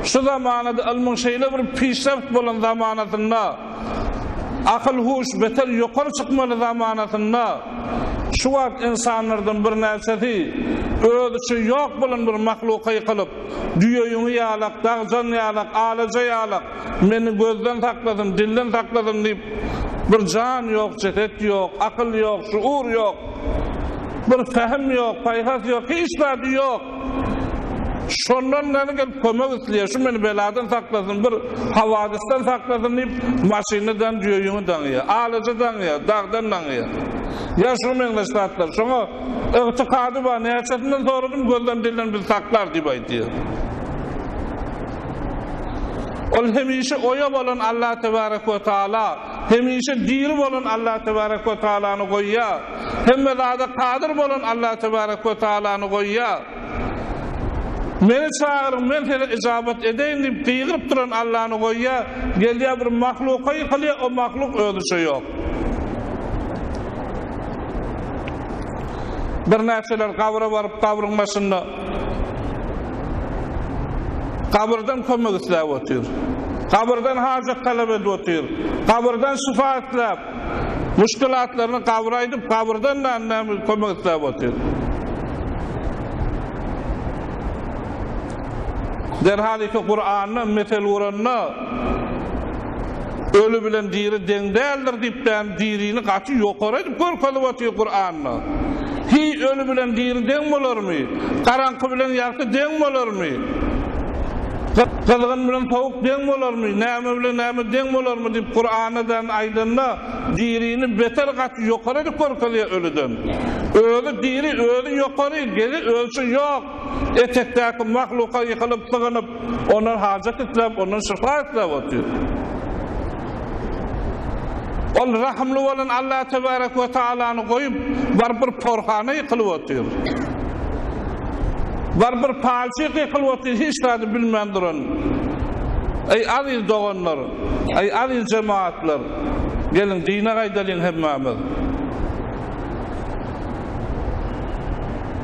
Şu zamanada ylmyň şeýle bir pişrewt bolan zamanasynda, akyl-huş beter ýokary çykmaly zamanasynda, şu wagt ynsanlardan birnäçesi özi üçin ýok bolan bir mahluka ýykylyp, düýe ýüňi ýalak, dagjan ýalak, alaja ýalak, Meni gözden saklasyn, dilden saklasyn diýip, bir jan ýok, jeset ýok, akyl ýok, şuur ýok, bir pähim ýok, paýhas ýok, hiç zady ýok. Şondan gani gelip kömek isleýär, şu meni beladan saklasyn, bir hawadysdan saklasyn diýip, maşyny dan, düýeýüňi daňýar, alajy daňýar, dagdan daňýar. Ýa şuňa meňzeş zatlar. Şoňa ygtykady bar, näçesinden soradym, gözden, dilden bizi saklar diýip aýdýar. Ol hemişe oýa bolan Allah Tebarek we Taala, hemişe diri bolan Allah Tebarek we Taalany goýýar, hemme zada kadyr bolan Allah Tebarek we Taalany goýýar. Meni çagyryň, men size yjabat edeýin diýip gygyryp duran Allany goýýar, gelýär bir mahluka ýykylýar, o mahluk özüçe ýok. Birnäçeler gabra baryp, gabryň başynda Gabyrdan kömek isläp otyr. Gabyrdan hajat talap edip otyr. Gabyrdan şyfa isläp, muşkilatlaryny gabra aýdyp, gabyrdan da näme kömek isläp otyr. Derhal iki Kuranda mesel guranda, Öli bilen diri deň däldir diýip däni dirini gaty ýokary edip görkezip otyr Kuranda. Hiý öli bilen diri deň bolarmy? Garaňky bilen ýagty deň bolarmy? Gyzgyn bilen sowuk deň bolarmy? Näme bilen näme deň bolarmy diýip Kuranda däni aýdanda dirini beter gaty ýokary edip görkezýär ölüden. Özi diri özi ýokary gezi ölçi ýok etekdäki mahluka ýykylyp sygynyp Ondan hajat isläp, ondan şypa isläp otyr. Ol rahymly bolan Alla tebarek we taalany goýup, baryp bir porhana ýykylyp otyr. Baryp bir palçyk ýykylyp otyr, hiç zady bilmän duran. Eý, aziz doganlar! Eý, aziz jemagatlar! Geliň, dine gaýdalyň hemmämiz!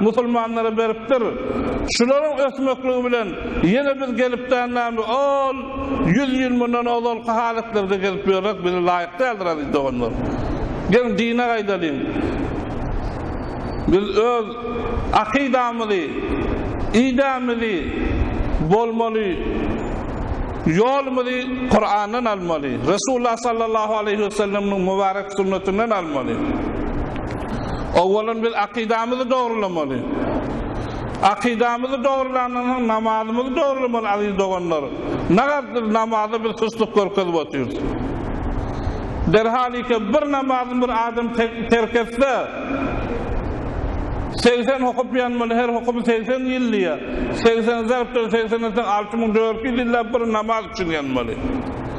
Musulmanlara beripdir. Şularyň ösmekligi bilen ýene biz gelip dänämi ol ýüz ýyl mundan ozalky halatlarda gelip ýörek bize laýyk däldir aziz doganlar. Geliň dine gaýdalyň. Biz öz akydamyzy, idemizi bolmaly, ýolumyzy Kurandan almaly, Resulullah sallallahu aleýhi we selleminiň mubarek sünnetinden almaly. Owwalan biz akydamyzy dogrulamaly. Akydamyzy dogrulandan soň namazymyzy dogrulamaly aziz doganlar. Nagardyr namaza biz suslyk görkezip otyrys. Derhalika bir namazyny bir adam terk etse segsen hokup ýanmaly her hokuby segsen ýyl diýýär. Segsen zarbdan segsen etseň alty müň dört ýüz ýyllap bir namaz üçin ýanmaly.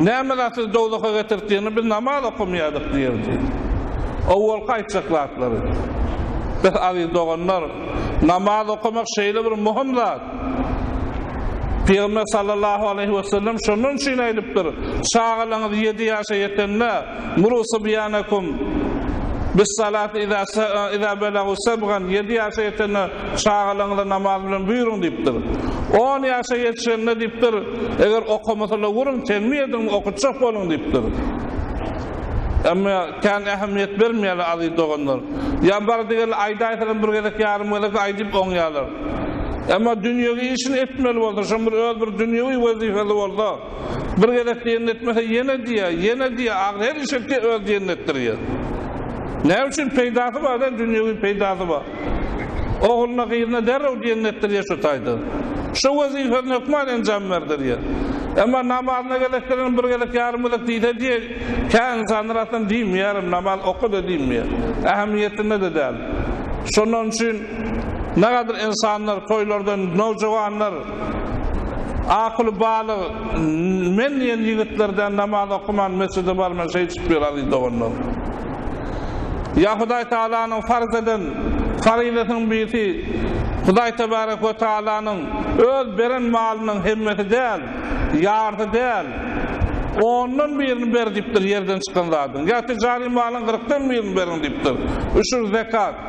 Näme zat sizi dowzaha getirip diýende biz namaz okamaýardyk diýerdi. Owalky aýtjak zatlary. Bes aziz doganlar, namaz okamak şeýle bir möhüm zat. Pygamber sallallahu aleýhi wesellem şondan üçin aýdypdyr, Çagalaňyz ýedi ýaşa ýetende, Muru subýanakum bis-salati iza iza belagu sebgan ýedi ýaşa ýetende Çagalaryňyza namaz bilen buýruň diýipdir. On ýaşa ýetişende diýipdir, eger okamasalar urun, tenbih ediň, okutjak boluň diýipdir. Emma kän ähmiýet bermeýärler aziz doganlar. Ýa bardy-geldi aýdaýsalam bir gezek, ýarym gezek aýdyp oňýarlar. Emma dünýewi işini etmeli bolsa, şoň bir öz bir dünýewi wezipesi bolsa, bir gezek diýenini etmese ýene diýýär, ýene diýýär, ahyry her iş etýär, öz diýenini etdirýär. Näme üçin? Peýdasy bar-da, dünýewi peýdasy bar. Ogluna, gyzyna derrew diýen netdir ýaşutaýdy. Şu wezipesini hökman enjam berdi diýer. Emma namazyna gezek gelen bir gezek, ýarym gezek diýse diýer, kä ynsanlar aslynda diýmeýärem, namaz oka-da diýmeýär. Ähmiýetinde-de däl. Şondan üçin nähilidir ynsanlar toýlardan, nowjuwanlar, Akyly balyk men diýen ýigitler däl namaz okaman mesjide barman şeý çykyp ýör aziz doganlar. Ýa Hudaý Tagalanyň farz eden faryzasynyň birisi Hudaý Tebarek we Tagalanyň öz beren malynyň hemmesi däl, ýarsy däl, ondan birini ber diýipdir ýerden çykan zadyň, ýa tijary malyň gyrkdan birini beriň diýipdir, üşür, zekat.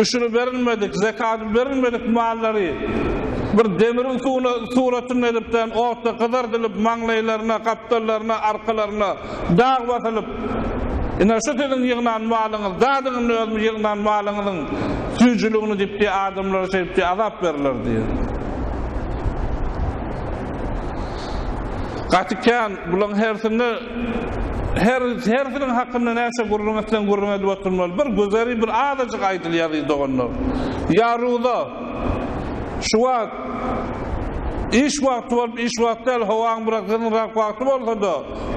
Üşüri berilmedik, zekady berilmedik mallary bir demiriň suwuna suratynda edip dän otda gyzardylyp, maňlaýlaryna, gapdallaryna, arkalaryna dag basylyp, Ine, şu siziň ýygnan malyňyz, dadyň indi özümiň ýygnan malyňyzyň süýjüligini diýip diýe adamlara şeýdip diýe azap berler diýe. Gaty kän bulaň hersini Her herfiniň hakynda näçe gürrüň etseň gürrüň edip oturmaly. Bir güzeri bir azajyk aýdyl ýazyň doganlar. Ýaruza. Şu wagt iş wagty bolup iş wagty däl howaň biraz gyzynrak wagty bolsada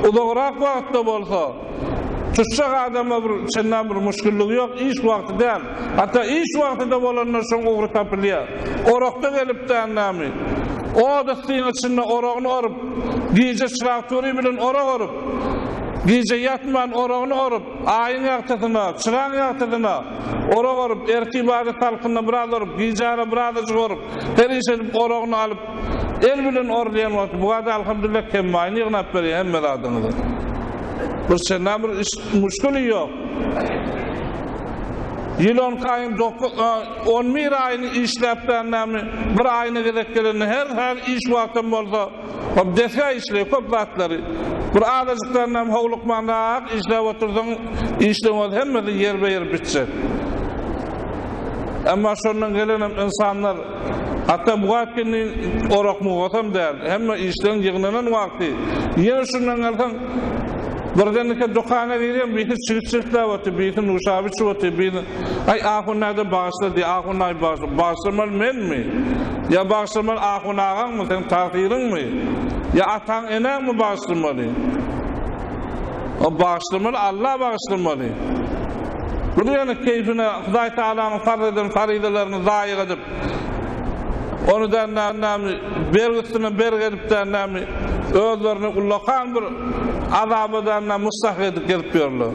uzagrak wagtda bolsa tuşjak adama bir çenlem bir muşgillygy ýok iş wagty däl. Ata iş wagtyda bolanda şoň ugry tapylýar. Orakda gelipdän nämi? Ot issiň içinde oragyny orup, gije çyraktury bilen orak orup, gije ýatman oragyny orup, aýyň ýagtysyna, çyraň ýagtysyna orak orup, ertir bada salkynda biraz orup, gijara birazajyk orup, her iş edip oragyny alyp, El bilen orlaýan wagty bu wada alhamdulillah kemmaýyny ýygnap berýär hemme zadyňyzy. Bir çendan bir iş muşkuli ýok. Ýyl on iki aýyň dokuz on bir aýyny işläp bernämi bir aýyna gezek gelende her her iş wagtym bolsa hop desga işleýär köp zatlary. Bir azajyk bernämi howlukman rahat işläp otursaň işleňoz hemmesi ýerbe ýer bitjek. Emma şondan gelenem ynsanlar Hatda bu wagt indi orak-mugatam däl. Hemme işden ýygnanan wagty, ýene şundan gelseň, birdenkä dükana girýän, birisi çigit çirtläp otyr, birisi nuşaba içip otyr, birisi, Aý, ahun näde, bagyşla diýýär. Ahun, Aý, bagyşla. Bagyşlamaly menmi? Ýa bagyşlamaly ahun agaňmy, seň tagsyryňmy? Ýa ataň-eneňmi bagyşlamaly? O bagyşlamaly Alla bagyşlamaly. Bu diýeni keýfine Hudaý Tagalanyň farz eden faryzalaryny zaýa edip, ony da näme bergi üstüne bergi edip de näme özlerini ullakan bir azaba da näme mustahak edip gezip ýörler.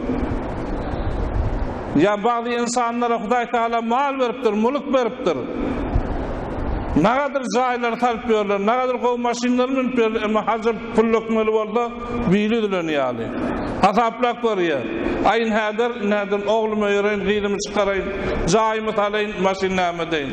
Ýa bagdy ynsanlara Hudaý Tagala mal beripdir, mulyk beripdir. Nagadyr jaýlary salyp ýörler, nagadyr gowy maşynlary münüp ýörler, emma haja pul dökmeli bolsa, Biri üzüleni ýaly. Hasaplap görýär. Aýn häzir, nädip ogluma ýöreýin, gyzymy çykaraýyn, jaýymy salaýyn, maşyn näme edeýin?